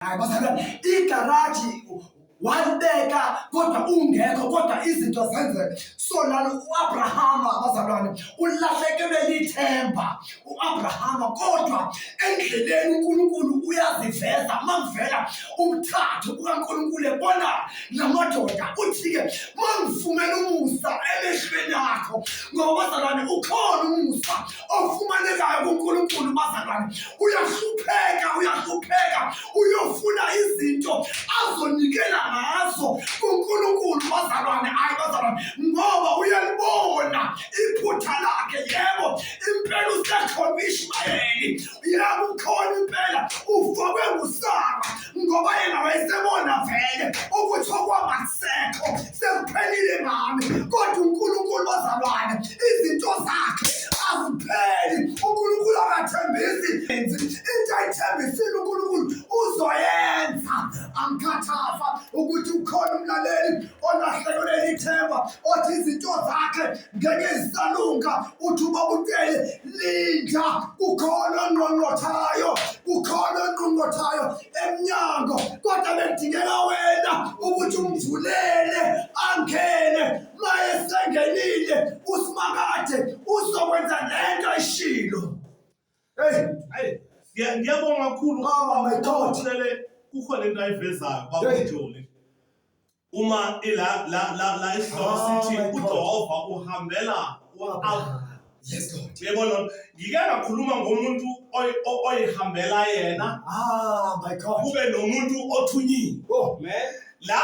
Hayi bazalwane, igaraji walibeka kodwa ungekho kodwa izinto zenzeka so lana u-abrahama abazalwane ulahlekelwe lithemba u-abrahama kodwa endleleni unkulunkulu uyaziveza mangivela umthathu kukankulunkulu ebona namadoda uthi-ke mangifumela umusa emehlweni akho ngoba bazalwane ukhona umusa ofumanekayo kuNkulunkulu bazalwane uyahlupheka uyahlupheka uyofuna izinto azonikela ngazo kuNkulunkulu bazalwane hayi bazalwane ngoba uyalibona iphutha lakhe yebo impela usekhona ishmayeli yebo ukhona impela ufakwe ngusara ngoba yena wayesebona vele ukuthi okwamasekho sekuphelile ngami kodwa unkulunkulu bazalwane izinto zakhe azipheli unkulunkulu akathembisi into ayithembisile unkulunkulu uzoyenza angikhathaza ukuthi ukhona umlaleli olahlekelwe ithemba othi izinto zakhe ngenyezisalunga uthi ubabutele linda kukhona ongqongqothayo kukhona ongqongqothayo emnyango kodwa bekudingeka wena ukuthi umvulele angene mayesengenile usimakade uzokwenza lento ishilo hey hey ngiyabonga kakhulu baba my god kukhona into ayivezayo baba ujoli Uma ila la la la isihloko Oh sithi my God. uJehova uhambela u-Abraham. Yes, Lord. Uyabona ngike ngakhuluma ngomuntu oy- o- oyihambela yena Ah, my God. kube nomuntu othunyiwe. Oh, Amen. La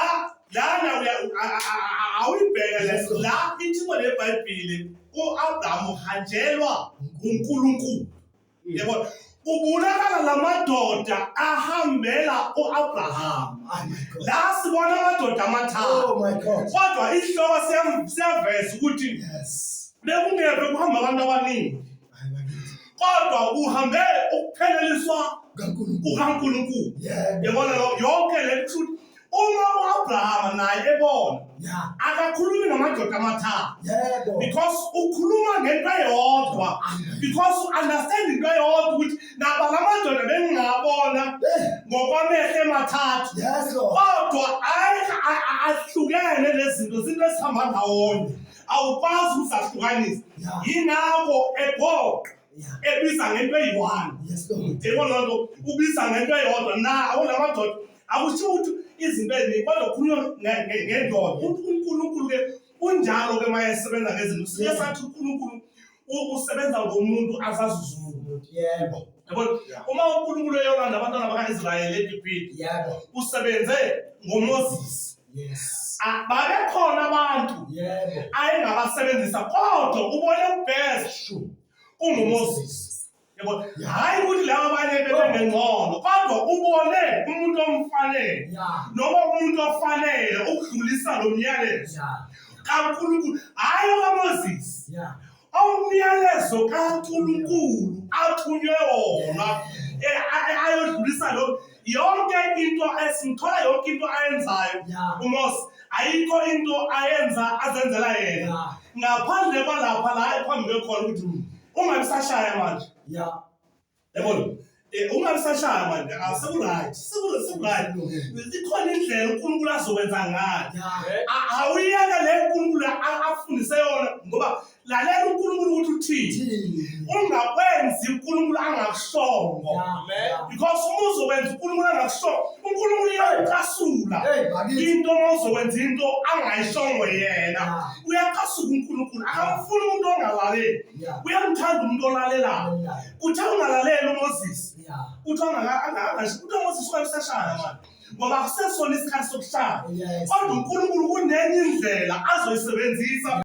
lana uya- a- a- a- a- awuyibheke Yes, le Lord. la ithimo leBhayibheli uAbraham uhanjelwa uNkulunkulu. Yebo. Kubonakala lamadoda ahambela uAbraham. La sibona amadoda amathathu. Oh my God. Kodwa isihloko siyam- siyaveza ukuthi Yes. bekungeve kuhamba abantu abaningi. Hayi bakithi. Kodwa uhambe ukupheleliswa KaNkulunkulu. kukaNkulunkulu. Yebo. Yabona lo yonke le truth uma uAbrahama naye ebona Yeah. akakhulumi namadoda amathathu Yebo. because ukhuluma ngento eyodwa because u-understand into eyodwa ukuthi naba lamadoda bengingabona Hey, ngokwamehlo emathathu Yes, Lord. kodwa ay- a- a- ahlukene lezinto zinto esihamba ndawonye awukwazi ukuzahlukanisa Yeah. yingakho egoqa ebiza ngento eyi-one yebo loo nto ubiza ngento eyodwa na awunamadoda akushiwo ukuthi izinto eziningi kodwa khulunywa ngendoda ukuthi unkulunkulu ke unjalo ke uma esebenza ngezinto siye sathi unkulunkulu usebenza ngomuntu azazuza umuntu yebo yabona uma unkulunkulu eyolanda abantwana baka-israyeli egibhidi yebo usebenze ngomoses Yes. Ah, babekhona abantu yeah. ayengabasebenzisa kodwa ubone ubest ungumoses yebo hayi ukuthi laba abanye bebengengcono kodwa ubone umuntu omfanele noma umuntu ofanele ukudlulisa lo myalezo kankulunkulu hayi okamoses umyalezo kankulunkulu athunywe wona eh, ayodlulisa lo yonke into ngithola yonke into ayenzayo Yeah. umos ayikho into ayenza azenzela yena Yeah. ngaphandle kwalapha la ephambi kwekhona ukuthi ungabi sashaya manje Yeah. yabona Eh, ungabi sashaya manje ah, sekuright Seku- sekuright ikhona indlela unkulunkulu azokwenza ngayo Yeah. A- awuyeke le nkulunkulu a- akufundise yona ngoba lalela uNkulunkulu ukuthi uthini ungakwenzi uNkulunkulu angakushongo because uma uzokwenza uNkulunkulu angakushongo uNkulunkulu uyacasula into uma uzokwenza into angayishongo yena uyacasuka uNkulunkulu akamfuni umuntu ongalaleli uyamthanda umuntu olalelayo kuthi ungalaleli uMoses kuthi angasho ukuthi uMoses wayesashaya manje ngoba kusesona isikhathi sokushaya kodwa uNkulunkulu kunenye indlela azoyisebenzisa